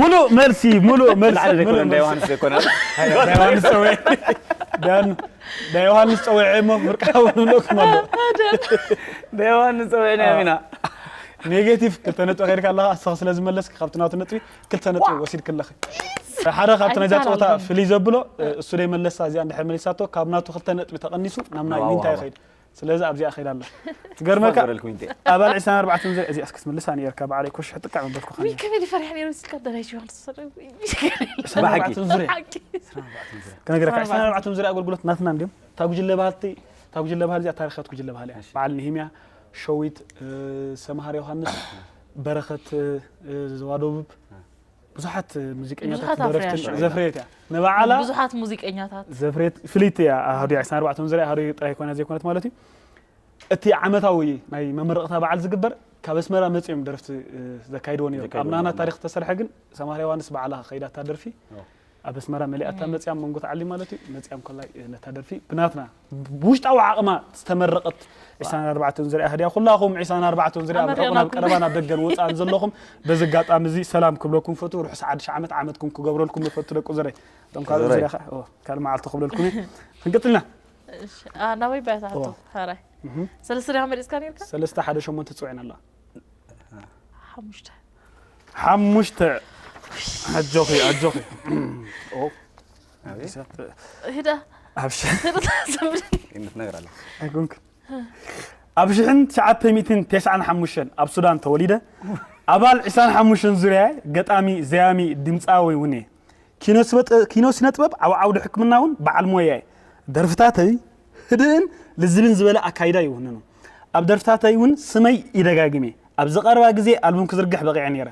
Speaker 2: ሙሉእ መልሲ
Speaker 1: ሙሉእ መልሲ ንዓና ዘይኮነ እንዳ ዮሃንስ
Speaker 3: ዘይኮነ ዮሃንስ
Speaker 1: ፀዊዐ ዳን እንዳ ዮሃንስ ፀዊዐ እሞ ምርቃው ንብለኩም ኣሎ እንዳ
Speaker 3: ዮሃንስ ፀዊዕናዮም ኢና ኔጌቲቭ
Speaker 1: ክልተ ነጥቢ ከይድካ ኣለኻ ኣስኻ ስለ ዝመለስኪ ካብቲ ናቱ ነጥቢ ክልተ ነጥቢ ወሲድክ ኣለኺ ሓደ ካብቲ ናይዛ ፀወታ ፍልይ ዘብሎ እሱ ደይ መለሳ እዚኣ እንድሕር መሊሳቶ ካብ ናቱ ክልተ ነጥቢ ተቐኒሱ ናብ ናይ ዊንታ ይኸይድ ስለዚ ኣብዚኣ ከይዳ ኣላ ትገርመካ ኣባል ዕስራን ኣርባዕተን ዘ እዚኣ እስኪ ትምልሳ ነርካ በዓለይ ኮሽሕ ጥቃዕ ምበልኩኻ ውይ ከመይ ፈሪሕ ነይሩ ስካ
Speaker 2: ደራሽ ዮሃንስ ዕስራን
Speaker 3: ኣርባዕተን ዙርያ
Speaker 1: ከነገረካ ዕስራን ኣርባዕተን ዙርያ ኣገልግሎት ናትና እንዲም እታ ጉጅለ ባህልቲ እታ ጉጅለ ባህል እዚኣ ታሪኻት ጉጅለ ባህል እያ በዓል ንሂምያ ሸዊት ሰምሃር ዮሃንስ በረኸት ዘዋ ደቡብ ብዙሓት ሙዚቀኛታት ደረፍትን ዘፍረየት እያ ንባዓላ ብዙሓት ሙዚቀኛታት
Speaker 2: ዘፍረየት ፍልይቲ
Speaker 1: እያ ኣሃዱ ዕስራን ኣርባዕተን ዝርያ ኣሃዱ ጥራይ ኮይና ዘይኮነት ማለት እዩ እቲ ዓመታዊ ናይ መመረቕታ በዓል ዝግበር ካብ ኣስመራ መፅኦም ደረፍቲ ዘካይድዎ ነይሩ ኣብ ናና ታሪክ ዝተሰርሐ ግን ሰማር ዮሃንስ በዓላ ከይዳታ ደርፊ ኣብ ኣስመራ መሊኣታ መፅያም መንጎ ተዓሊም ማለት እዩ መፅያም ኮላይ ነታ ደርፊ ብናትና ብውሽጣዊ ዓቕማ ዝተመረቐት ዒስራን ኣርባዕተን ዝርያ ኣህድያ ኩላኹም ዒስራን ኣርባዕተን ዝርያ ኣብ ርሑቕን ኣብ ቀረባን ኣብ ደገን ወጻእን ዘለኹም በዚ ኣጋጣሚ እዚ ሰላም ክብለኩም ፈቱ ርሑስ ሓድሽ ዓመት ዓመትኩም ክገብረልኩም ይፈቱ ደቁ ዝረይ እቶም ካልኦት ዝርያ ከዓ ካልእ መዓልቲ ክብለልኩም እየ ክንቅጽልና
Speaker 2: ናበይ ባያታ ሃቶ ሃራይ ሰለስተ ድኻ መሪፅካ ነርካ ሰለስተ ሓደ ሸሞንተ ፅውዕን
Speaker 1: ኣላ ሓሙሽተ
Speaker 2: ሓሙሽተ
Speaker 1: ኣጆኺ ኣጆኺ ኣቤት
Speaker 2: ሂዳ ኣብ ሽ- ሂዳ
Speaker 1: ዘምሪ
Speaker 3: ይምትነግር ኣለ ኣይኮንክ
Speaker 1: ኣብ ሽሕን ትሽዓተ ሚእትን ቴስዓን ሓሙሽተን ኣብ ሱዳን ተወሊደ ኣባል ዕስራን ሓሙሽተን ዙርያ ገጣሚ ዘያሚ ድምፃዊ እውን እየ ኪኖ ስበጥ- ኪኖ ስነ ጥበብ ኣብ ዓውዲ ሕክምና እውን በዓል ሞያ እየ ደርፍታተይ ህድእን ልዝብን ዝበለ ኣካይዳ ይውንኑ። ኣብ ደርፍታተይ እውን ስመይ ይደጋግም እየ። ኣብዚ ቀረባ ግዜ ኣልቡም ክዝርግሕ በቒዐ ነይረ።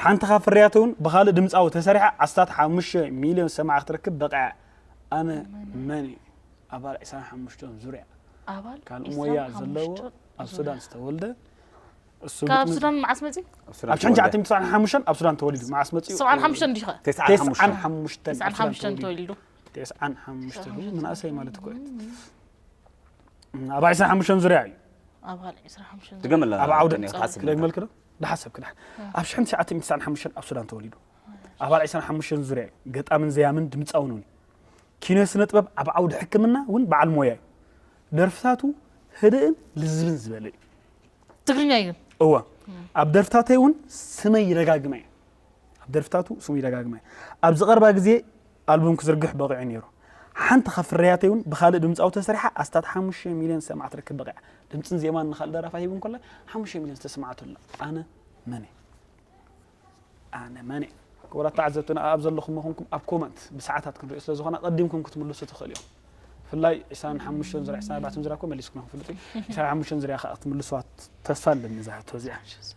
Speaker 1: ሓንቲ ካብ ፍርያተይ እውን ብኻልእ ድምጻዊ ተሰሪሓ ኣስታት ሓሙሽተ ሚልዮን ሰማዒ ክትረክብ በቒዓ። ኣነ መን እየ? ኣባል ዕስራን ሓሙሽተን ዙርያ ኣባል
Speaker 2: ሞያ
Speaker 1: ዘለዎ ኣብ ሱዳን ዝተወልደ ካብ
Speaker 2: ሱዳን መዓስ መፅኡ? ኣብ ሽሕን ትሽዓተ ሚእቲ
Speaker 1: ሰብዓን ሓሙሽተን ኣብ ሱዳን ተወሊዱ። መዓስ መፅኡ? ሰብዓን ሓሙሽተን
Speaker 2: ዲኻ? ተስዓን ሓሙሽተን ተስዓን ሓሙሽተን ተወሊዱ። ቴስዓን ሓሙሽተን
Speaker 1: ቴስዓን መናእሰይ ማለት እኮ እዩ ኣብ ዕስራ ሓሙሽተን ዙርያ እዩ ኣብ ካልእ ዕስራ
Speaker 2: ሓሙሽተን ዙርያ ድገመላ ኣብ ዓውደ ቅድሚ
Speaker 3: ክሓስብ
Speaker 1: ክደግመልክ ዶ ዳሓሰብ ክዳሕ ኣብ ሽሕን ትሽዓተ ሚእቲ ትስዓን ሓሙሽተን ኣብ ሱዳን ተወሊዱ ኣባል ዕስራን ሓሙሽተን ዙርያ እዩ ገጣምን ዘያምን ድምፃውን እውን ኪነ ስነ ጥበብ ኣብ ዓውዲ ሕክምና እውን በዓል ሞያ እዩ ደርፍታቱ ህድእን ልዝብን ዝበለ እዩ ትግርኛ
Speaker 2: እዩ እዋ ኣብ
Speaker 1: ደርፍታተይ እውን ስመይ ይደጋግመ እዩ ኣብ ደርፍታቱ ስሙ ይደጋግም እየ። ኣብዚ ቀረባ ግዜ ኣልቡም ክዝርግሕ በቒዑ ነይሩ። ሓንቲ ካብ ፍርያተይ እውን ብኻልእ ድምጻዊ ተሰሪሓ ኣስታት ሓሙሽተ ሚልዮን ዝሰምዓ ክትረክብ በቒዓ። ድምጽን ዜማን ንኻልእ ደራፋይ ሂቡ እንከሎ ሓሙሽተ ሚልዮን ዝተሰምዓቶ ኣላ። ኣነ መን እየ? ኣነ መን እየ? ክቡራት ተዓዘብትና ኣኣብ ዘለኹሞ ኮንኩም ኣብ ኮመንት ብሰዓታት ክንሪኦ ስለ ዝኾና ቀዲምኩም ክትምልሱ ትኽእሉ ኢኹም። ብፍላይ ዕስራን ሓሙሽተን ዙርያ ዕስራን ኣርባዕተን ዙርያ እኮ መሊስኩምና ክፍልጥ እዩ። ዕስራን ሓሙሽተን ዙርያ ከኣ ክትምልሱዋ ተስፋ ኣለኒ እዛ ሕቶ እዚኣ።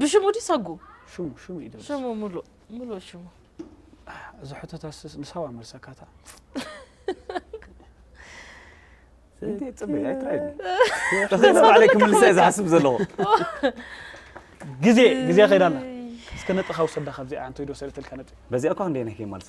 Speaker 2: ብሽሙ ድዩ ሰጉ ሽሙ ሽሙ እዩ ድረስ
Speaker 1: ሽሙ ሙሉእ
Speaker 2: ሙሉእ ሽሙ እዚ
Speaker 1: ሕቶታስ ንሳዋ መልሰካታ
Speaker 3: እንዴት ጽሜ አይትራይም ተዘይነ ባዕለይ ክምልሰ እየ ዝሓስብ ዘለኹ ግዜ
Speaker 1: ግዜ ከይዳና እስከ ነጥኻ ውሰዳ ካብዚኣ እንተይዶ ሰለተልካ ነጥ በዚኣ እኳ ክንደይ ነህ
Speaker 3: መልሳ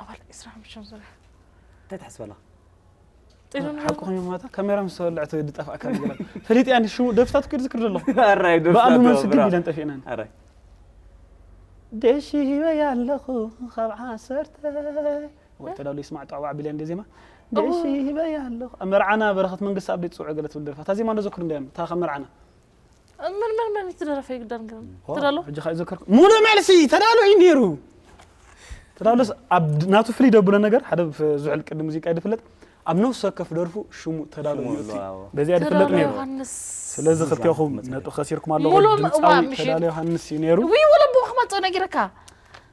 Speaker 2: ኣባል ዕስራ ሓሙሽተ ዙርያ እንታይ ትሓስብ
Speaker 3: ኣለኻ
Speaker 1: ሓቂ ኮይኑ ማታ ካሜራ ምስ ተወልዐት ዝጠፍኣካ ነገር ፈሊጥያ ኒ ሽሙ ደርፍታት ክድ ዝክር ዘለኹ ብኣሉ
Speaker 3: መልሲ ግድ ኢለን
Speaker 1: ጠፊእናን
Speaker 3: ደሽ
Speaker 1: ሂበያ ኣለኹ ካብ ዓሰርተ ወይ ተዳሉ ይስማዕ ጠዕዋ ቢልያ እንደ ዜማ ደሽ ሂበያ ኣለኹ ኣብ መርዓና በረኸት መንግስቲ ኣብደይ ፅውዕ ገለ ትብል ደርፋ እታ ዜማ እንዶ ዘክሩ እንዳ እታ ካብ መርዓና ምን
Speaker 2: ምን ምን ትደረፈ ይግደር ግን ትደሎ ሕጂ ካእ ዘከርኩ ሙሉእ
Speaker 1: መልሲ ተዳሎ እዩ ነይሩ ተዳሎስ ኣብ ናቱ ፍልይ ደብሎ ነገር ሓደ ዝውዕል ቅዲ ሙዚቃ ይድፍለጥ ኣብ ነፍሲ ወከፍ ደርፉ ሽሙ ተዳሎ ሽሙ ይእቲ ኣሎ፣ ኣዎ። በዚኣ ይድፍለጥ ተዳሎ ነይሩ ዮሃንስ ስለዚ ክልቴኹም መጽሓፍ ነጥቢ ከሲርኩም ኣለኹ ሙሉእ ድምፃዊ ምእዋእ ምሽጥ። ተዳሎ ዮሃንስ እዩ ነይሩ ውይ ወለቦ ክመፅእ
Speaker 2: ነጊረካ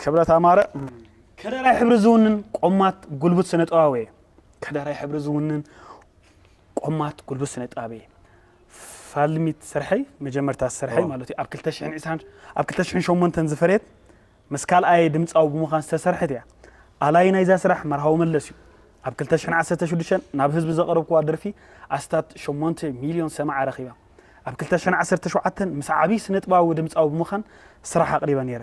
Speaker 1: ክብረት ኣማረ ከደራይ ሕብሪ ዝውንን ቆማት ጉልቡት ስነ ጥበባዊ እየ ከደራይ ሕብሪ ዝውንን ቆማት ጉልቡት ስነ ጥበባዊ እየ ፋልሚት ስርሐይ መጀመርታ ስርሐይ ማለት እዩ ኣብ 220 ኣብ 208 ዝፈርየት ምስ ካልኣየ ድምፃዊ ብምዃን ዝተሰርሐት እያ ኣላይ ናይዛ ስራሕ መርሃዊ መለስ እዩ ኣብ 216 ናብ ህዝቢ ዘቕረብክዋ ደርፊ ኣስታት 8 ሚልዮን ሰማዓ ረኺባ ኣብ 217 ምስ ዓብዪ ስነጥባዊ ድምፃዊ ብምዃን ስራሕ ኣቕሪበ ነይረ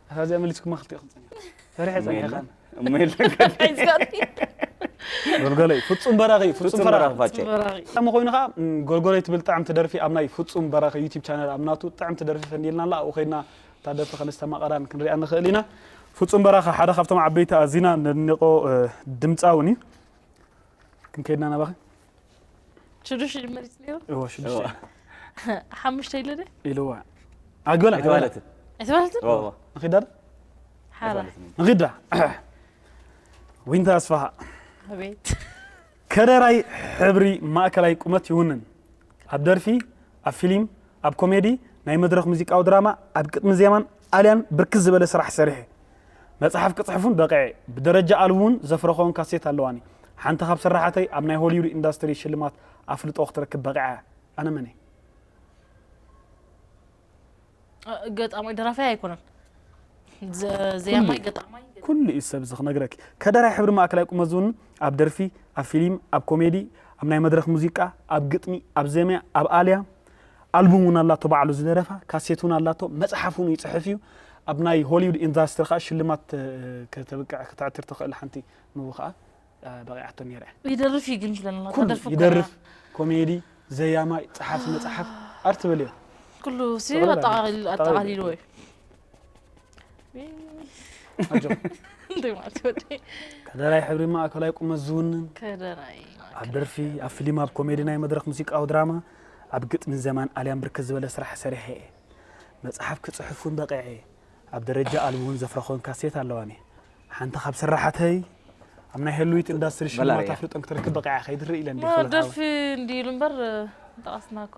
Speaker 1: ኣታ እዚኣ መሊስኩማ ክልቲኡ ክጸኒሑ ፈሪሐ ጸኒሐ ካን እሞ
Speaker 3: የለን
Speaker 1: ጎልጎለይ ፍጹም በራኺ ፍጹም ፍጹም በራኺ በራኺ ፋጨ
Speaker 3: በራኺ ከም ኮይኑ
Speaker 1: ከዓ ም፣ ጎልጎለይ ትብል ጥዕምቲ ደርፊ ኣብ ናይ ፍጹም በራኺ ዩቲብ ቻነል ኣብ ናቱ ጥዕምቲ ደርፊ ፈንዲልና ኣላ ኣብኡ ከይድና እታ ደርፊ ከነስተማቐራን ክንሪኣ ንኽእል ኢና ፍጹም በራኺ ሓደ ካብቶም ዓበይቲ ኣዚና ነድንቖ እ፣ ድምፃውን እዩ ክንከይድና ናባኺ
Speaker 2: ሽዱሽተ መሪፅ ነይሩ እወ
Speaker 1: ሽዱሽተ
Speaker 2: ሓሙሽተ ኢለ ደ ኢልዋ
Speaker 1: ኣገላ ኣይተባህለትን
Speaker 3: ኣይተባህለትን
Speaker 1: ንኺዳ ሓራ
Speaker 2: ንኺዳ
Speaker 1: ዊንታ ኣስፋሃ ኣቤት
Speaker 2: ከደራይ
Speaker 1: ሕብሪ ማእከላይ ቁመት ይውንን ኣብ ደርፊ ኣብ ፊልም ኣብ ኮሜዲ ናይ መድረኽ ሙዚቃዊ ድራማ ኣብ ቅጥሚ ዜማን ጣልያን ብርክት ዝበለ ስራሕ ሰሪሐ። መጽሓፍ ክጽሕፍ ውን በቒዐ። ብደረጃ ኣልቡ ውን ዘፍረኽወን ካሴት ኣለዋኒ። ሓንቲ ካብ ስራሓተይ ኣብ ናይ ሆሊውድ ኢንዳስትሪ ሽልማት ኣፍልጦ ክትረክብ በቒዓ እያ። ኣነ መን እየ? ገጣማይ ደራፋይ
Speaker 2: ኣይኮነን ዘያማይ ገጣማይ ኩሉ እዩ ሰብ እዚ
Speaker 1: ክነግረኪ ከደራይ ሕብሪ ማእከላይ ቁመት ዝውንን ኣብ ደርፊ ኣብ ፊሊም ኣብ ኮሜዲ ኣብ ናይ መድረክ ሙዚቃ ኣብ ግጥሚ ኣብ ዜማ ኣብ ኣልያ ኣልቡም ውን ኣላቶ ባዕሉ ዝደረፋ፣ ካሴት ውን ኣላቶ፣ መጽሓፍ ውን ይጽሕፍ እዩ። ኣብ ናይ ሆሊውድ ኢንዳስትሪ ከኣ ሽልማት ከተብቅዕ ከተዕትር ትኽእል ሓንቲ ንቡ ከኣ በቒዓቶ ኔራ እያ። ይደርፍ እዩ ግን ትብለና
Speaker 2: ኩሉ ተደርፊ እኮ ኢና።
Speaker 1: ይደርፍ፣ ኮሜዲ፣ ዘያማይ፣ ጸሓፊ መጽሓፍ፣ ኣርት በልዮ። ኩሉሲ ጥቕልል
Speaker 2: ኣጠቓሊሉ ኣጠቓሊሉ እዩ። እዩ። ከደራይ ሕብሪ
Speaker 1: ማእከላይ ቁመት ዝውንን
Speaker 2: ኣብ ደርፊ
Speaker 1: ኣብ ፊልም ኣብ ኮሜዲ ናይ መድረክ ሙዚቃዊ ድራማ ኣብ ግጥሚን ዘማን ኣልያም ብርክት ዝበለ ስራሕ ሰሪሐ እየ መፅሓፍ ክፅሕፍ እውን በቂዐ እየ ኣብ ደረጃ ኣልቢ እውን ዘፍረኾን ካሴት ኣለዋኒ ሓንቲ ካብ ስራሓተይ ኣብ ናይ ህልዊት ኢንዳስትሪ ሽልማት ኣፍልጦን ክትረክብ በቂዓ ከይድርኢ ኢለን ደርፊ እንዲ
Speaker 2: ኢሉ እምበር ጠቐስና እኮ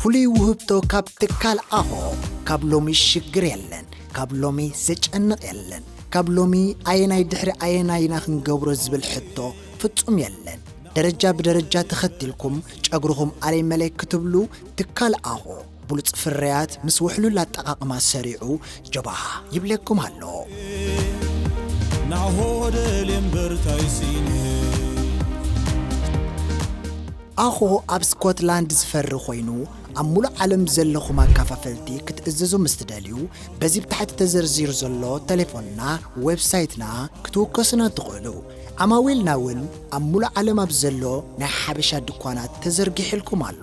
Speaker 5: ፍሉይ ውህብቶ ካብ ትካል ኣኾ ካብ ሎሚ ሽግር የለን ካብ ሎሚ ዘጨንቕ የለን ካብ ሎሚ ኣየናይ ድሕሪ ኣየናይ ኢና ክንገብሮ ዝብል ሕቶ ፍጹም የለን ደረጃ ብደረጃ ተኸቲልኩም ጨግርኹም ኣለይ መለይ ክትብሉ ትካል ኣኾ ብሉጽ ፍርያት ምስ ውሕሉል ኣጠቓቕማ ሰሪዑ ጀባሃ ይብለኩም ኣሎ። ናሆ
Speaker 6: ደልየ እምበር ታይ ስኢነ
Speaker 5: ኣኾ ኣብ ስኮትላንድ ዝፈሪ ኮይኑ ኣብ ሙሉእ ዓለም ዘለኹም ኣካፋፈልቲ ክትእዝዙ ምስ ትደልዩ በዚ ብታሕቲ ተዘርዚሩ ዘሎ ተሌፎንና ዌብሳይትና ክትውከሱና ትኽእሉ ዓማዊልና ውን ኣብ ሙሉእ ዓለም ኣብ ዘሎ ናይ ሓበሻ ድኳናት ተዘርጊሕልኩም ኣሎ።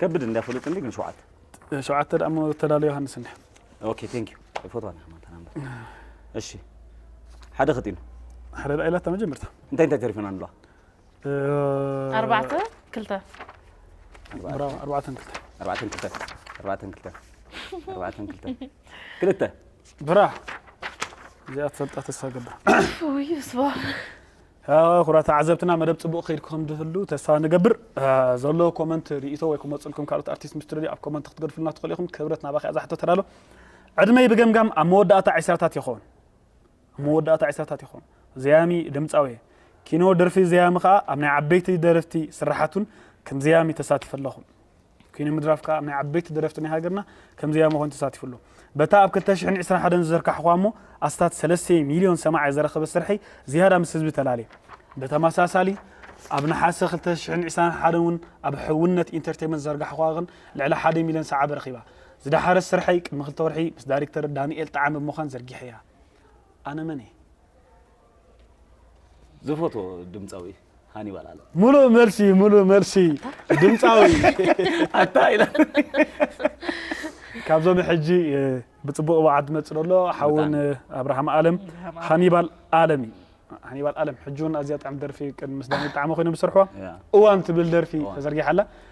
Speaker 3: ከብድ እንዳ ፍሉጥ እንዲ ግን ሸውዓተ ሸውዓተ ደኣ
Speaker 1: እሞ ተዳሎ ዮሃንስ እንዲ ኦኬ ቴንክ ዩ
Speaker 3: ፎቶ ኣነ ከማን ተናምበር እሺ ሓደ ክጢኑ ሓደ ደኣ ኢላታ
Speaker 1: መጀመርታ እንታይ እንታይ ተሪፈና ንብላ
Speaker 3: ኣርባዕተ
Speaker 2: ክልተ ብራቮ ኣርባዕተን ክልተ ኣርባዕተን ክልተ ኣርባዕተን ክልተ
Speaker 3: ኣርባዕተን ክልተ ክልተ ብራ
Speaker 1: እዚኣ ትፈልጣ ተስፋ ገብር ውይ ስባ
Speaker 2: ኩቡራት
Speaker 1: ተዓዘብትና መደብ ጽቡቅ ከይድ ከም ድህሉ ተስፋ ንገብር ዘሎ ኮመንት ሪኢቶ ወይ ክመጽልኩም ካልኦት ኣርቲስት ምስ ትደልዩ ኣብ ኮመንት ክትገድፍልና ትኽእሉ ኢኹም ክብረት ናባኺ እዛ ሕቶ ተዳሎ ዕድመይ ብገምጋም ኣብ መወዳእታ ዕስራታት ይኸውን ኣብ መወዳእታ ዕስራታት ይኸውን ዘያሚ ድምጻዊ ኪኖ ደርፊ ዘያሚ ከኣ ኣብ ናይ ዓበይቲ ደርፍቲ ስራሓቱን ከም ዘያሚ ተሳትፍ ኣለኹ ኪነ ምድራፍ ከኣ ናይ ዓበይቲ ደረፍቲ ናይ ሃገርና ከም ዘያሚ ኮይኑ ተሳቲፉ ኣሎ። በታ ኣብ ክልተ ሽሕን ዕስራን ሓደን ዝዘርካሕኩዋ እሞ ኣስታት ሰለስተ ሚልዮን ሰማዒ ዘረከበት ስርሐይ ዝያዳ ምስ ህዝቢ ተላልየ። ብተመሳሳሊ ኣብ ነሓሰ ክልተ ሽሕን ዕስራን ሓደን እውን ኣብ ሕውነት ኢንተርቴመንት ዝዘርጋሕኩዋ ግን ልዕሊ ሓደ ሚልዮን ሰዓቢ ረኺባ። ዝደሓረት ስርሐይ ቅድሚ ክልተ ወርሒ ምስ ዳሪክተር ዳኒኤል ጠዓመ ብምዃን ዘርጊሐያ። ኣነ መን እየ?
Speaker 3: ዝፈትዎ ድምፃዊ ሃኒባል ኣለ ሙሉእ መልሲ ሙሉእ
Speaker 1: መልሲ ድምፃዊ ኣታ
Speaker 3: ኢላ
Speaker 1: ካብዞም ሕጂ እ፣ ብፅቡቅ ብዓድ መፅእ ዘሎ ሓውን እ፣ ኣብርሃም ኣለም ሃኒባል ኣለም እዩ ሃኒባል ኣለም ሕጂ እውን ኣዝያ ጥዕም ደርፊ ቅድሚ ምስ ዳኒ ጣዕመ ኮይኖም ዝሰርሕዋ እዋን ትብል ደርፊ ተዘርጊሓ ኣላ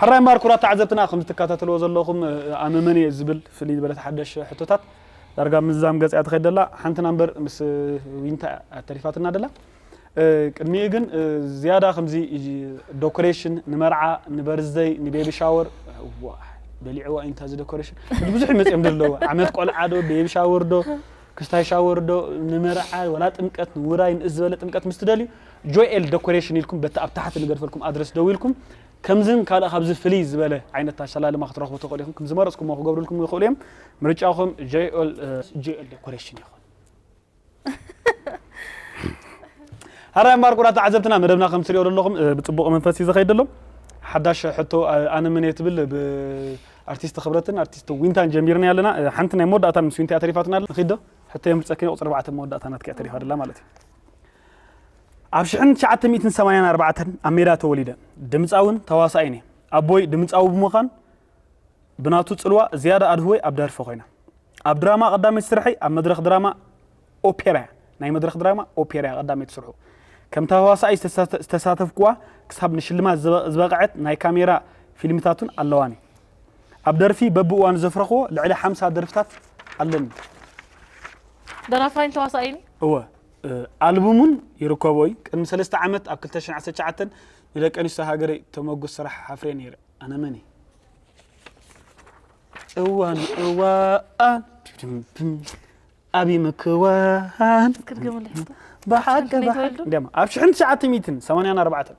Speaker 1: ሕራይ እምበኣር ኩቡራት ተዓዘብትና ከምዚ ትካታተልዎ ዘለኹም ኣነ መን እየ ዝብል ፍልይ ዝበለት ሓደሽ ሕቶታት ዳርጋ ምዝዛም ገጽ እያ ትኸይድ ዘላ ሓንትና እምበር ምስ ዊንታ እያ ተሪፋትና ዘላ ቅድሚኡ ግን ዝያዳ ከምዚ ዶኮሬሽን ንመርዓ ንበርዝደይ ንቤቢ ሻወር እዋ በሊዕዋ ኢንታ እዚ ደኮሬሽን እቲ ብዙሕ ይመጽኦም ደለዎ ዓመት ቆልዓ ዶ ቤቢ ሻወር ዶ ክስታይ ሻወር ዶ ንመርዓ ወላ ጥምቀት ንውራይ ንእስ ዝበለ ጥምቀት ምስ ትደልዩ ጆኤል ደኮሬሽን ኢልኩም በቲ ኣብ ታሕቲ ንገድፈልኩም ኣድረስ ደዊልኩም ከምዝን ካልእ ካብዚ ፍልይ ዝበለ ዓይነት ኣሰላልማ ክትረኽቡ ትኽእሉ ኢኹም። ዝመረጽኩሞ ክገብርልኩም ይኽእሉ እዮም። ምርጫኹም ጆኤል ደኮሬሽን ይኹን። ሃራይ ማርቆራ ተዓዘብትና መደብና ከም ትሪኦ ዘለኹም ብጽቡቕ መንፈስ እዩ ዝኸይድ ዘሎ ሓዳሽ ሕቶ ኣነ ምን እየ ትብል ብኣርቲስት ክብረትን ኣርቲስት ዊንታን ጀሚርና ኣለና ሓንቲ ናይ መወዳእታን ምስ ዊንታ ተሪፋትና ንኺዶ ሕቶ የምልፀኪ ቁፅሪ ኣርባዕተ መወዳእታ ናትኪ ተሪፋ ደላ ማለት እዩ ኣብ ሽሕን ትሽዓተ ሚእትን ሰማንያን ኣርባዕተን ኣብ ሜዳ ተወሊደ። ድምጻዊን ተዋሳኣይን እየ። ኣቦይ ድምጻዊ ብምዃን ብናቱ ጽልዋ ዝያዳ ኣድህቦይ ኣብ ደርፊ ኮይነ። ኣብ ድራማ ቀዳመይቲ ስርሐይ ኣብ መድረኽ ድራማ ኦፔራ እያ። ናይ መድረኽ ድራማ ኦፔራ እያ ቀዳመይቲ ስርሑ። ከም ተዋሳኣይ ዝተሳተፍኩዋ ክሳብ ንሽልማት ዝበቐዐት ናይ ካሜራ ፊልምታት'ውን ኣለዋኒ። ኣብ ደርፊ በብእዋኑ ዘፍረኽዎ ልዕሊ ሓምሳ ደርፍታት ኣለኒ። ደራፋይን
Speaker 2: ተዋሳኣይን
Speaker 1: እየ። እወ። ኣልቡሙን ይርከቦ እዩ ቅድሚ ሰለስተ ዓመት ኣብ ክልተ ሽሕን ዓሰርተ ትሽዓተን ንደቂ ኣንስትዮ ሃገረይ ተመጉስ ስራሕ ሓፍሬ ነይረ ኣነ መን እየ እዋን እዋን ኣብ ምክዋን ክትገምሉ ብሓቂ ብሓቂ እንዲያማ ኣብ ሽሕን ትሽዓተ ሚእትን ሰማንያን ኣርባዕተን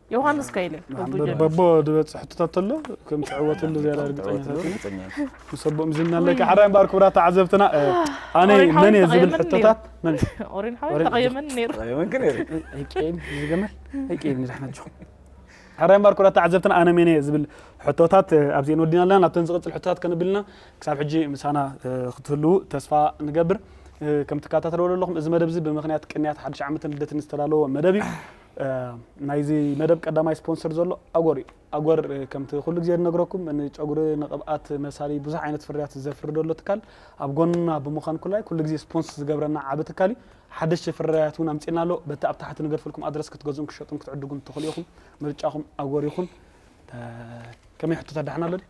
Speaker 2: ዮሃንስ ከይለ በቦ
Speaker 1: ዝበፅሕ ሕቶታት ተሎ ከም ትዕወትሉ ዝያዳ ርግፀኛታት ምስ ኣቦኦም ዝና ኣለካ ሓራይ እምበኣር ክቡራት ተዓዘብትና ኣነ መን እየ ዝብል ሕቶታት መን ኦሪን ሓወይ ተቐየመን
Speaker 2: ነይሩ ኣይቀይም
Speaker 1: ዝገመል ኣይቀይም ንዛሕናችኹም ሓራይ እምበኣር ክቡራት ተዓዘብትና ኣነ መን እየ ዝብል ሕቶታት ኣብዚአን ወዲና ኣለና ናብተን ዝቕፅል ሕቶታት ከንብልና ክሳብ ሕጂ ምሳና ክትህልው ተስፋ ንገብር ከም ትከታተልዎ ዘለኹም እዚ መደብ እዚ ብምክንያት ቅንያት ሓድሽ ዓመትን ልደትን ዝተዳለወ መደብ እዩ ናይዚ መደብ ቀዳማይ ስፖንሰር ዘሎ ኣጎር እዩ። ኣጎር ከምቲ ኩሉ ግዜ ንነግረኩም ንጨጉሪ ንቅብኣት መሳሊ ብዙሕ ዓይነት ፍርያት ዘፍሪ ዘሎ ትካል ኣብ ጎንና ብምዃን ኩላይ ኩሉ ግዜ ስፖንስ ዝገብረና ዓቢ ትካል እዩ። ሓደሽቲ ፍርያት እውን ኣምጺእና ኣሎ። በቲ ኣብ ታሕቲ ንገድፈልኩም ኣድረስ ክትገዝኡን ክትሸጡን ክትዕድጉን ትኽእሉ ኢኹም። ምርጫኹም ኣጎር ይኹን። ከመይ ሕቶታት ደሓን ኣሎ ድዩ?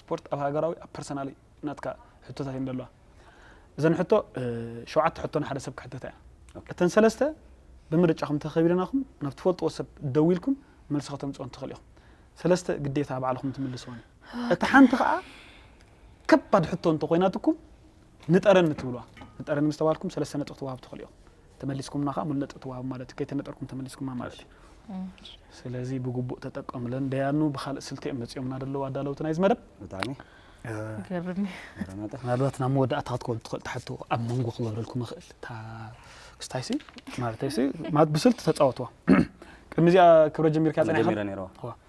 Speaker 1: ስፖርት ኣብ ሃገራዊ ኣብ ፐርሰናል ናትካ ሕቶታት እየን ዘለዋ እዘን ሕቶ ሸውዓተ ሕቶ ንሓደ ሰብ ክሕተታ እያ እተን ሰለስተ ብምርጫኹም ተኸቢለናኹም ናብ ትፈልጥዎ ሰብ ደዊልኩም መልሲ ከተምፅኦን ትኽእሉ ኢኹም ሰለስተ ግዴታ ባዕልኹም ትምልስዎን እታ ሓንቲ ከዓ ከባድ ሕቶ እንተኮይናትኩም ንጠረን እትብሉዋ ንጠረን ምስ ተባልኩም ሰለስተ ነጥቢ ትወሃብ ትኽእሉ ኢኹም። ተመሊስኩምና ከኣ ሙሉ ነጥቢ ትወሃብ ማለት እዩ። ከይተነጠርኩም ተመሊስኩማ ማለት እዩ። ስለዚ ብግቡእ ተጠቀምለን። ደያኑ ብካልእ ስልቲ እዮም መጺኦምና ደለዉ ኣዳለውቲ ናይዚ መደብ። ብጣዕሚ
Speaker 3: ገርም
Speaker 2: እዩ። ረመጠ ምናልባት
Speaker 1: ናብ መወዳእታ ክትከውን ትኽእል ትሓቶ ኣብ መንጎ ክገብረልኩም እኽእል እታ ክስታይሲ ማለተይሲ ማለት ብስልቲ ተጻወትዋ ቅድሚ እዚኣ ክብረ ጀሚርካ ጸኒሕካ ጀሚረ ነይረዋ እዋ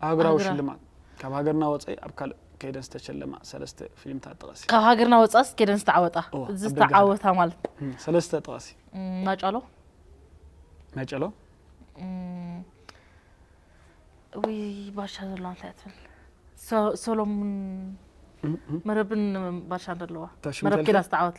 Speaker 1: ኣህጉራዊ ኣህጉራ- ሽልማት ካብ ሃገርና ወጸኢ ኣብ ካልእ ከይደን ዝተሸለማ ሰለስተ ፊልምታት ጥቐሲ። ካብ ሃገርና ወፃእ ስ
Speaker 2: ከይደን ዝተዓወጣ እዋ፣ ኣብ ደገ ዝተዓወታ ማለት እም፣ ሰለስተ ጥቐሲ።
Speaker 1: እም፣ ማጫሎ
Speaker 2: መጨሎ እም፣ ወይ ባሻ ዘለዋ እንታይ እያ ትብል ሶ- ሶሎሙን እም፣ እም፣ መረብን ባሻ ዘለዋ ተሽሙ መረብ ተልፊ? ከይዳ ዝተዓወት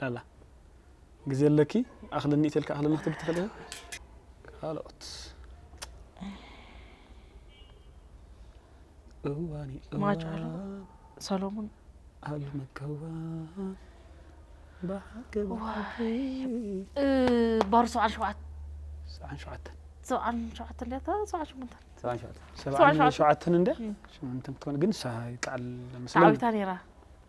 Speaker 1: ላላ ግዜ ኣለኪ ኣክልኒ ኢተልኪ ኣክልኒ ክትብሊ ትክእሊ ኢኪ ካልኦት እዋን እዩ ማጭ ኣሎ
Speaker 2: እዋን ሰሎሙን ኣሉ
Speaker 1: መከዋን
Speaker 2: እ፣ ባሩ ሰብዓን ሸውዓተ ሰብዓን ሸውዓተን ሰብዓን ሸውዓተ እንድያ እታ ሰብዓን
Speaker 1: ሸሞንተን ሰብዓን ሸውዓተ ሰብዓን ሸውዓተን እንድያ ሽምንትን ክትኮን ግን ንሳ ይከዓል ስለ ተዓዊታ ነይራ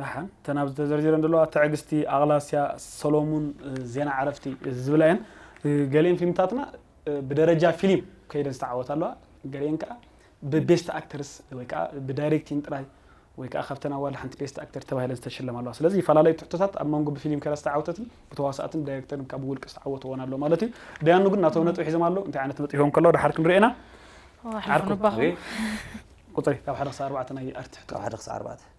Speaker 1: ደሓን እተን ኣብዚ ተዘርዚረን ዘለዋ ትዕግስቲ፣ ኣቕላስያ፣ ሰሎሙን፣ ዜና ዕረፍቲ ዝብላ እየን። ገሊኤን ፊልምታትና ብደረጃ ፊሊም ከይደን ዝተዓወታ ኣለዋ። ገሊኤን ከኣ ብቤስት ኣክተርስ ወይ ከኣ ብዳይሬክቲን ጥራይ ወይ ከኣ ካብተን ኣዋልድ ሓንቲ ቤስት ኣክተር ተባሂለን ዝተሸለማ ኣለዋ። ስለዚ ይፈላለዩ ትሕቶታት ኣብ መንጎ ብፊሊም ከይዳ ዝተዓወተትን ብተዋሳእትን ብዳይሬክተርን ካብ ብውልቂ ዝተዓወቱ እወን ኣለዉ ማለት እዩ። ደያኑ ግን ናቶም ነጥቢ ሒዞም ኣለዉ። እንታይ ዓይነት ነጥቢ ሂቦም ከለዉ ደሓር ክንሪኦ ኢና። ዓርኩ
Speaker 2: ቁጽሪ
Speaker 1: ካብ ሓደ ክሳብ ኣርባዕተ ናይ ኣርት ትሕቶታት። ካብ ሓደ ክሳብ ኣርባዕተ።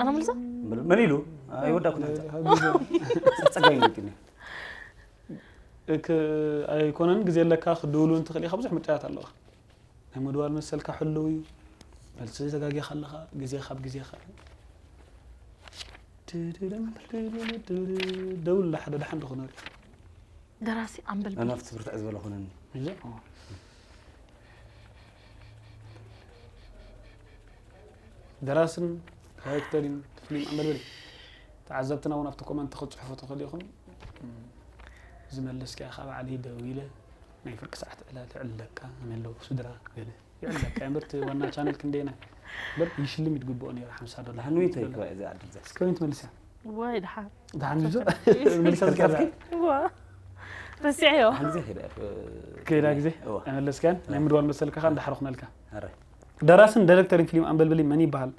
Speaker 2: ኣነ ምልዛ ምን ኢሉ
Speaker 3: ኣይወዳኩ ፀጋይ ይግኒ
Speaker 1: ኣይኮነን ግዜ ኣለካ ክድውሉ እንትኽእል ኢኻ ብዙሕ ምርጫታት ኣለኻ ናይ ምድዋል መሰልካ ሕልው እዩ መልሲ ዘጋጊኻ ኣለኻ ግዜ ካብ ግዜኻ ደውል ሓደ ድሓን ድኹነር እዩ ደራሲ
Speaker 2: ኣምበል ኣና ብርትዕ ክትብርትዕ ዝበለ ኮነኒ
Speaker 3: እየ ኦ።
Speaker 1: ደራስን ዳይሬክተርን ፍሊም ኣንበልበሊ ተዓዘብትና እውን ኣብቲ ኮመንት ክትፅሕፉ ትኽእሉ ኢኹም ዝመልስ ከኣ ካብ ዓሊ ደው ኢለ ናይ ፍርቂ ሰዓት ዕላል ዕለካ ኣነ ኣለኩ ስድራ ገለ ይዕለካ እየ እምበር እቲ ዋና ቻነል ክንደየናይ እምበር ይሽልም ይትግብኦ ነይሩ ሓምሳ ዶላር ዳሓንዊት እየ እኮ እዚኣ ድምፂ
Speaker 3: እስከ ከመይ ትመልስያ
Speaker 1: ዋይ ድሓን
Speaker 2: ድሓን እዩ ዞ
Speaker 1: መልሳ ዝከዛ ከርካፍኪ ዋ
Speaker 2: ረሲዐዮ ሓን ግዜ ከይዳ
Speaker 3: እየ ከይዳ ግዜ
Speaker 1: እዋ ኣይመለስካያን ናይ ምድዋል መሰልካ ከዓ እንዳሓረ ኩነልካ ኣረ
Speaker 3: ደራስን ዳይሬክተርን
Speaker 1: ፊልም ኣንበልብሊ መን ይበሃል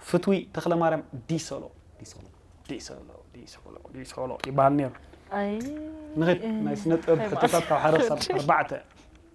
Speaker 1: ፍትዊ ተክለማርያም ዲሶሎ ዲሶሎ ዲሶሎ ዲሶሎ ዲሶሎ ይበሃል ነይሩ ኣይ
Speaker 2: ንኺድ ናይ
Speaker 1: ስነ ጥበብ ሕቶታት ካብ ሓደ ክሳብ ኣርባዕተ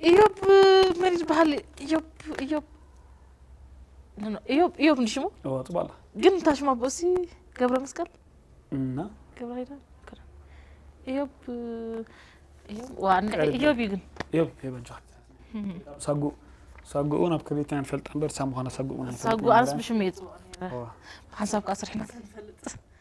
Speaker 1: እዮብ
Speaker 2: መን ዝበሃል እዮብ እዮብ እዮብ እዮብ እንዲ ሽሙ ጽባላ ግን
Speaker 1: እንታ ሽማ ብኡሲ
Speaker 2: ገብረ መስቀል እና
Speaker 1: ገብረ ኪዳን
Speaker 2: እዮብ እዮብ ዋ እዮብ እዩ ግን እዮብ የበጃት
Speaker 1: ሳጉ ሳጉኡ ናብ ከቤት ናይ ንፈልጣ እምበር ሳሙዃና ሳጉኡ ሳጉ ኣንስ ብሽሙ
Speaker 2: እየ ጽዋዕ ሓንሳብ ከዓ ስርሕና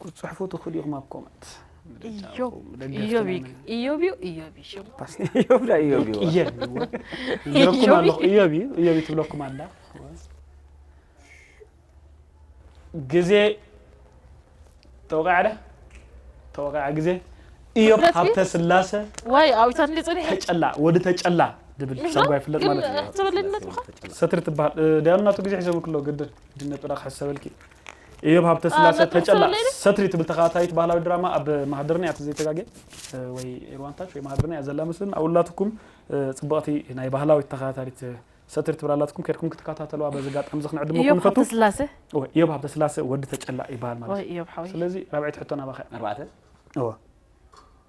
Speaker 1: ክትፅሕፉ
Speaker 2: ትኽእሉ
Speaker 3: ኢኹም ኣብ ኮመንት ትብለኩም ኣላ
Speaker 1: ግዜ ተወቃዕለ ተወቃዕ ግዜ እዮብ ሃብተ ስላሰ
Speaker 2: ተጨላ ወዲ ተጨላ
Speaker 1: ድብል ሰጓ ይፍለጥ ማለት እዩ ሰትሪ ትበሃል ዳያኑ ናቱ ግዜ ሒዞም ክሎ ግድን ድነጥራ ክሕሰበልኪ እዮብ ሃብተስላሰ ተጨላ ሰትሪ ትብል ተኸታታሊት ባህላዊ ድራማ ኣብ ማህደርና እያ ተዘይተጋገ ወይ ኤርዋንታች ወይ ማህደርና እያ ዘላ መስልን ኣብኡላትኩም ፅብቕቲ ናይ ባህላዊት ተኸታታሊት ሰትሪ ትብል ኣላትኩም ከድኩም ክትከታተልዋ በዚ ኣጋጣሚ እዚ ክንዕድመኩም እዮብ ንፈቱ ሃብተስላሰ
Speaker 2: እወ፣ እዮብ ሃብተስላሰ
Speaker 1: ወዲ ተጨላ ይበሃል ማለት ወይ እዩ እዮብ ሓወይ ስለዚ ራብዐይቲ
Speaker 2: ሕቶ ናባኸ
Speaker 1: እያ ኣርባዕተ እወ